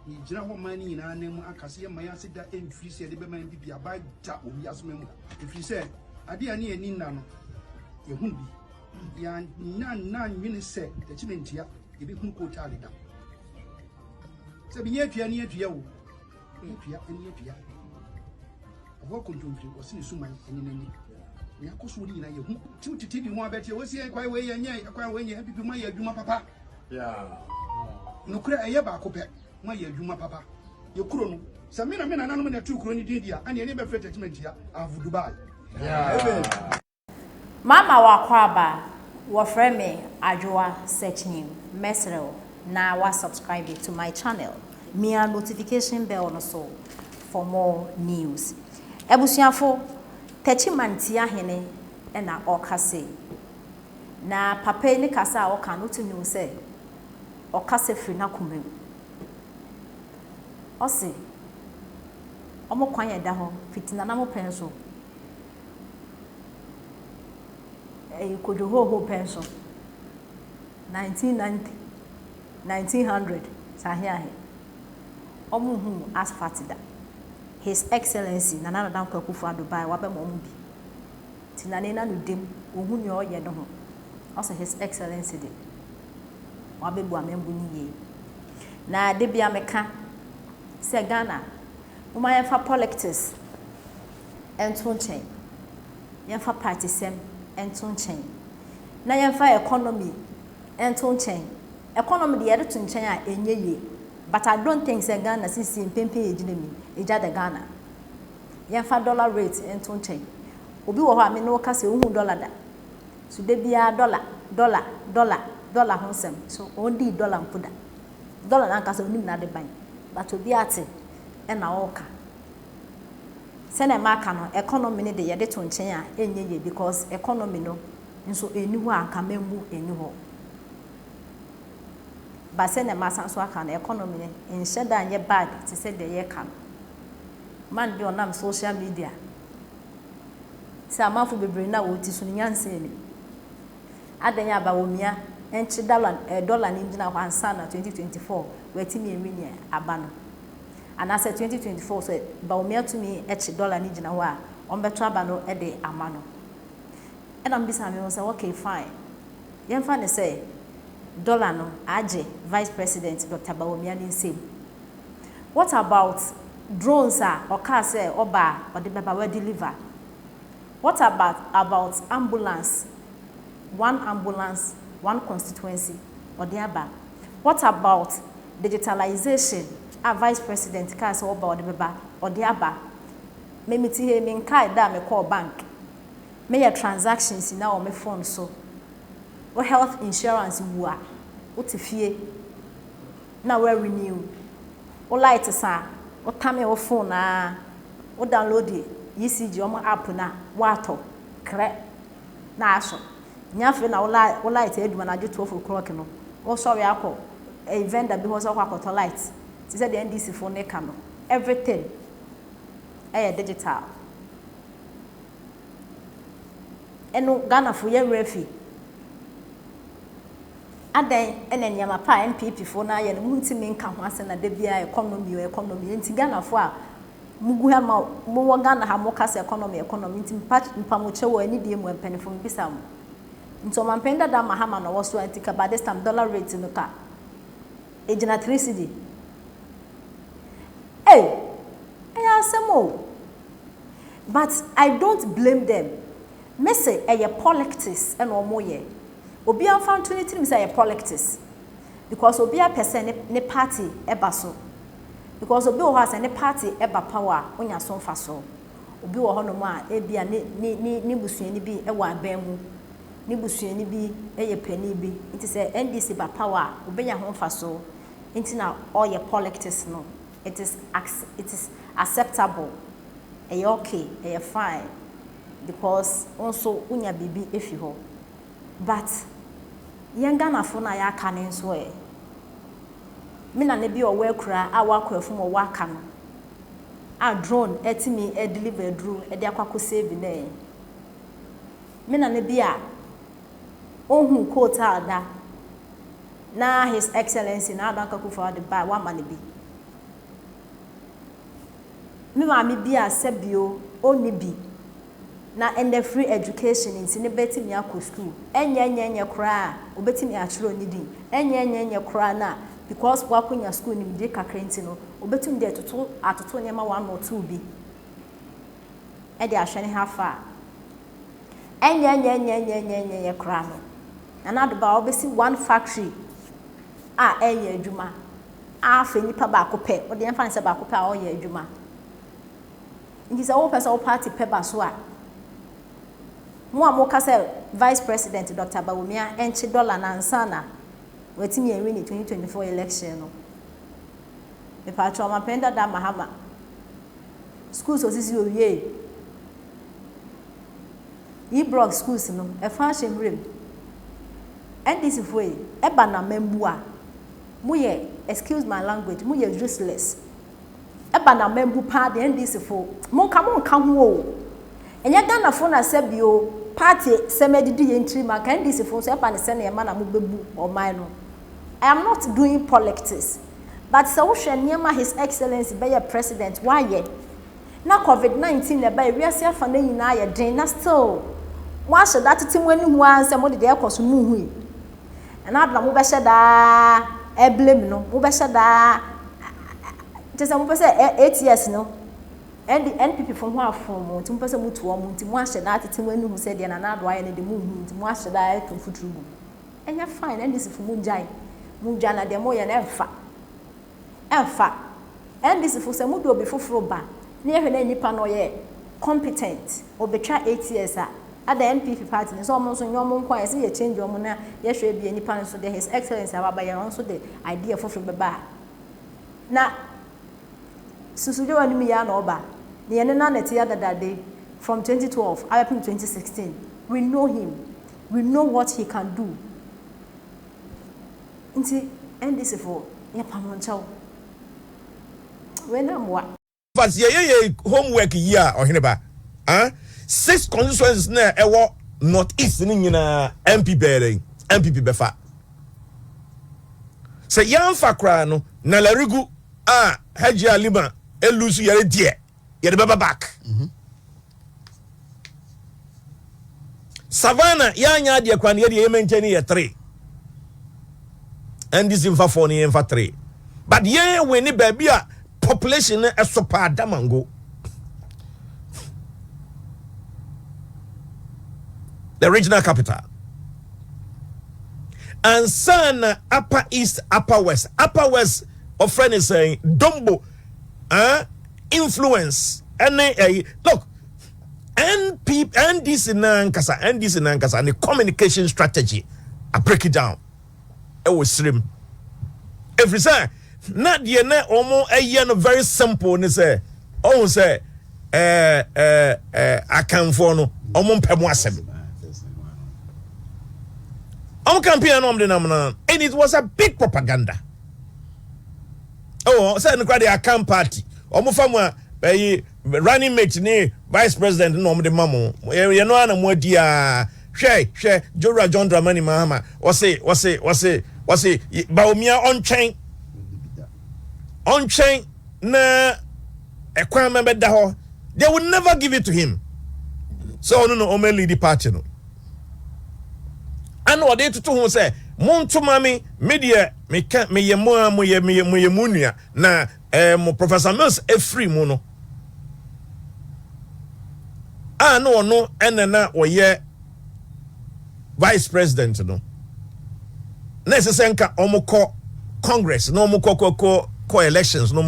Yɛgyina hɔ man no nyinaa anan mu aka sɛ yɛmma yɛn ase da mfiri sɛ yɛde bɛma yɛn bibi aba agya wɔ wiase man mu ha. Ɛfiri sɛ adeɛ a ne yɛn ani nna no, yɛhunu bi. Yɛannya nna nwene sɛ yɛkyeme ntia yɛbɛhunu kootaa deda. Sɛ bi nyɛ atua ne atua o, ne atua ne atua. Ɛhɔ kontomfiri wɔse ne suman ne n'ani. Ne akɔsoɔ no nyinaa yɛhu. Tiw tete bi ho abɛteɛ wɔsi ɛkwan wei yɛnyɛ ɛkwan wei nyɛ bibi ma yɛ adwuma papa. Nokorɛ ɛyɛ baako pɛ, moayɛ adwuma papa. Yɛ kuro no, sɛ me na me nananom na ɛtoo kuro no din deɛ a, ɛneɛ ne bɛfrɛ Techiman Tia av Dubai. Mama w'akwaaba, wɔfrɛ me Adwoa Sekyim, mɛsrɛ wo na wa subscribe to my channel, mia notification bell no so for more news. Abusuafo, Techiman Tia Hene na ɔɔka sei. Na papa yi ne kasa a ɔka no wotumi hu sɛ ɔkasa firi n'akoma mu. Ɔse wɔn kwan a ɛda hɔ fiti Nanamo pɛn so, ɛɛ Kodwohoohoo pɛn so, nineteen ninety, nineteen hundred sɛ ahe ahe, wɔn nhuu asphalt da. His Excellency Nana Addo Dankwa Akufo-Addo bae wabɛma wɔn bi. nti na n'ena no dem, ɔhu nea ɔreyɛ no ho. Ɔse His Excellency de, wabɛbu amambu no yie. Na dabia meka sɛ Ghana, momma yɛmfa pɔlɛktis nto nkyɛn, yɛmfa paatesɛm nto nkyɛn, na yɛmfa ɛkɔnɔmi nto nkyɛn. Ɛkɔnɔmi deɛ yɛde to nkyɛn a, ɛnyɛ yie, but I don't think sɛ Ghana seesei mprempren yɛgyina mu yi, egya da Ghana. Yɛmfa dollar rate nto nkyɛn. Obi wɔ hɔ a me ne wo kasa yi, onhuu dollar da. So da biara dollar, dollar, dollar, dollar ho nsɛm. So ɔndii dollar mpo da. Dollar no ankasa onim n'adeban, but obi ate na ɔreka. Sɛnea maka no, economy no de yɛde to nkyɛn a ɛnyɛ yie because economy no nso ɛnni hɔ a anka mammu ɛnni hɔ. But sɛnea masan so aka no, economy no nhyɛ da nyɛ bad te sɛ deɛ yɛreka no. man bi a ɔnam social media sɛ amanfo bebree nna a wɔte su no nyansa ni. Adɛn a Bawumia nkye dala eh dɔla no ngyina hɔ ansa na 2024 watumi awi nea aba no? Anaasɛ 2024 sɛ Bawumia tumi kye dɔla no gyina hɔ a ɔmbɛto aba no de ama no? Ɛna mebisa me ho sɛ okay fine yɛmfa no sɛ dɔla no agye Vice President Doctor Bawumia ne nsam What about drones a ɔkaa sɛ ɔba a ɔde bɛba wa deliver? What about about ambulance one ambulance one constituency ɔde aba? What about digitalization a vice president kaa sɛ ɔba a ɔde bɛba ɔde aba? Me me te ha yi me nkae da a me kɔɔ bank me yɛ transactions nyinaa wɔ me phone so. Wo health insurance wu a wo te fie. na wo renew wo lights a wo tame wo phone aa wo download ECG wɔn app no a woatɔ krɛ na asɔ nyɛ afei na wo light adum anadwo twelve o'clock no wo sɔre akɔ vendor bi hɔ sɛ wokɔ akɔtɔ light te sɛ deɛ NDC foɔ no reka no everything ɛyɛ digital ɛno Ghana foɔ yɛn werɛ afi. Adɛn na nneɛma pa a NPP foɔ no ayɛ no montumi nka ho asɛm na da biara economy o economy enti Ghana foɔ a mogu ha ma mowɔ Ghana ha moka sɛ economy economy nti mpamokyɛw o anidie mu a mpaninfoɔ mebisa mo nti ɔmampanin dada Mahama na ɔwɔ so a nti ka by this time dollar rate no ka egyina three cedi ei ɛyɛ asɛm o but I don't blame them mese ɛyɛ polictics na wɔyɛ. Obia nfa nto ne tirim sɛ ɛyɛ polictics because obia pɛ sɛ ne party ɛba so because obi wɔ hɔ a sɛ ne party ɛba power a onya so nfa so. Obi wɔ hɔ nom a ebia ne busuani bi ɛwɔ aban mu, ne busuani bi ɛyɛ panin bi nti sɛ NDC ba power a obenya ho nfa so nti na ɔyɛ polictics no. It is acceptable, ɛyɛ okay, ɛyɛ fine. because wo nso wonya biribi fi hɔ but yɛn Ghanafoɔ no a yɛaka no nso ɛ? Me nana bi a ɔwɔ Akuraa a wakɔ afum ɔwɔ aka no a drone atumi adeliver aduro de akɔ akɔ save no ɛ? Me nana bi a ɔhuu coat a da na His Excellency Nana Addo Anka Akufo-Addo de bae wama no bi. Me maame bi a sɛbio ɔnni bi na ɛnnɛ free education nti no bɛtumi akɔ sukuu, ɛnyɛɛnyɛɛnyɛ koraa a ɔbɛtumi akyerɛw ne din, ɛnyɛɛnyɛɛnyɛ koraa no a because wakonya sukuu nimdie kakra nti no ɔbɛtumi de atoto atoto nneɛma one or two bi de ahwɛ ne ho afa a ɛnyɛɛnyɛɛnyɛɛnyɛɛnyɛɛnyɛɛnyɛ koraa no Nana Ado Baa ɔbɛsi one factory a ɛreyɛ adwuma. A Afei nipa baako pɛ, wode yɛmfa no sɛ baako pɛ a ɔreyɛ adwuma. Nti sɛ wopɛ sɛ wo party pɛ ba so a, mo a moka sɛ Vice President Doctor Bawumia nkye dɔla no ansa na watumi anwini 2024 election no, mepakyɛw Ɔmampanyin Dada Mahama, schools a osisi owiei yi, block schools no, ɛfã ahyɛ nwura mu. NDC foɔ yi, ɛba na mammua. Mo yɛ excuse my language mo yɛ useless ɛba na mambu paa deɛ NDC fo mo nka mo nka ho oo ɛnyɛ Ghana fo na sɛ bio party sɛm adidi yɛn tiri mu anka NDC fo nso ɛba ne sɛnea ɛma na mo bɛbu ɔman no I am not doing polictics but sɛ wohwɛ nneɛma his excellency bɛyɛ president wayɛ na covid 19 na ɛba ewiase afa na nyinaa yɛ den na still mo ahyɛ da tete mo ani ho ara nsɛ mo de deɛ ɛkɔ so mo hui. Ɛno ade na mobɛhyɛ daa blame no, mobɛhyɛ daa kyerɛ sɛ mopɛ sɛ eight years no ND NPP fo ho afon mo nti mopɛ sɛ motu wɔn nti moahyɛ daa atete mo ani hu sɛ deɛ Nana Addo ayɛ no de monhu nti moahyɛ daa atu mfuturo gu mu. Ɛnyɛ fine, NDC fo mongyae, modwa na deɛ moreyɛ no ɛmfa. Ɛmfa. NDC fo sɛ mo de obi foforo ba na yɛhwɛ na nipa no ɔyɛ competent, ɔbɛtwa eight years a, adɛn NPP party no sɛ ɔmo nso nyɛ ɔmo nko a yɛse yɛ change ɔmo na yɛhwɛ bia nipa no nso deɛ his excellency a waba yɛ no ɔno nso de idea foforo bɛba a na susudwe w'anim yɛ a na ɔba na yɛne no anɛte yɛ dada de from twenty twelve abɛpem twenty sixteen we know him we know what he can do. Nti NDC fo yɛpam mo nkyɛw. Wei na mmoa. Fath yɛ yɛ yɛi home work yi a ɔhene ba ah six constituencies na ɛwɔ north east no nyinaa MP bɛyɛ dɛn NPP bɛfa sɛ yɛanfa koraa no na larigu ah Hajia Lima ɛlusu yɛre deɛ yɛde bɛba back. Savannah yɛ anyɛ adeɛ kwan yɛ deɛ yɛ mɛnkyɛn no yɛ three NDC nfa four no yɛ nfa three but yɛn win ne baabi a population no ɛso paa Damango the regional capital ansa na upper east upper west upper west ɔfrɛ ne sɛn dombo ɛn. Eh? influence ɛne ɛyi eh, look NP NDC nankasa NDC nankasa ne communication strategy a break it down ɛwɔ sirim efiri sɛ na deɛ na wɔn ɛyɛ no very simple ne sɛ ɔhun sɛ ɛɛ ɛɛ ɛɛ akanfoɔ no wɔn mpɛ mu asɛm wɔn campaign na wɔn de nam na and it was a big propaganda. Ɛwɔ hɔ sɛ ɛno koraa deɛ akan party wɔn fa mu a ɛyi running mate ne vice president na wɔn de ma mo yɛ yɛ no ara na mo adi aa hwɛ hwɛ jowura john dramani mahama wɔsi wɔsi wɔsi wɔsi baomia ɔntwɛn ɔntwɛn na ɛkwan mɛ bɛ da hɔ they will never give it to him sɛ ɔno na wɔn lead party no ɛna ɔde toto ho sɛ mo nto ma me me deɛ Me ka me yɛ mo aa mo yɛ me yɛ mo yɛ mo nua na ɛɛ mo professor mills ɛfiri mu no a na ɔno ɛna na ɔyɛ vice president no na ɛsɛ sɛ nka ɔmo kɔ congress na ɔmo kɔ kɔ kɔ kɔ elections no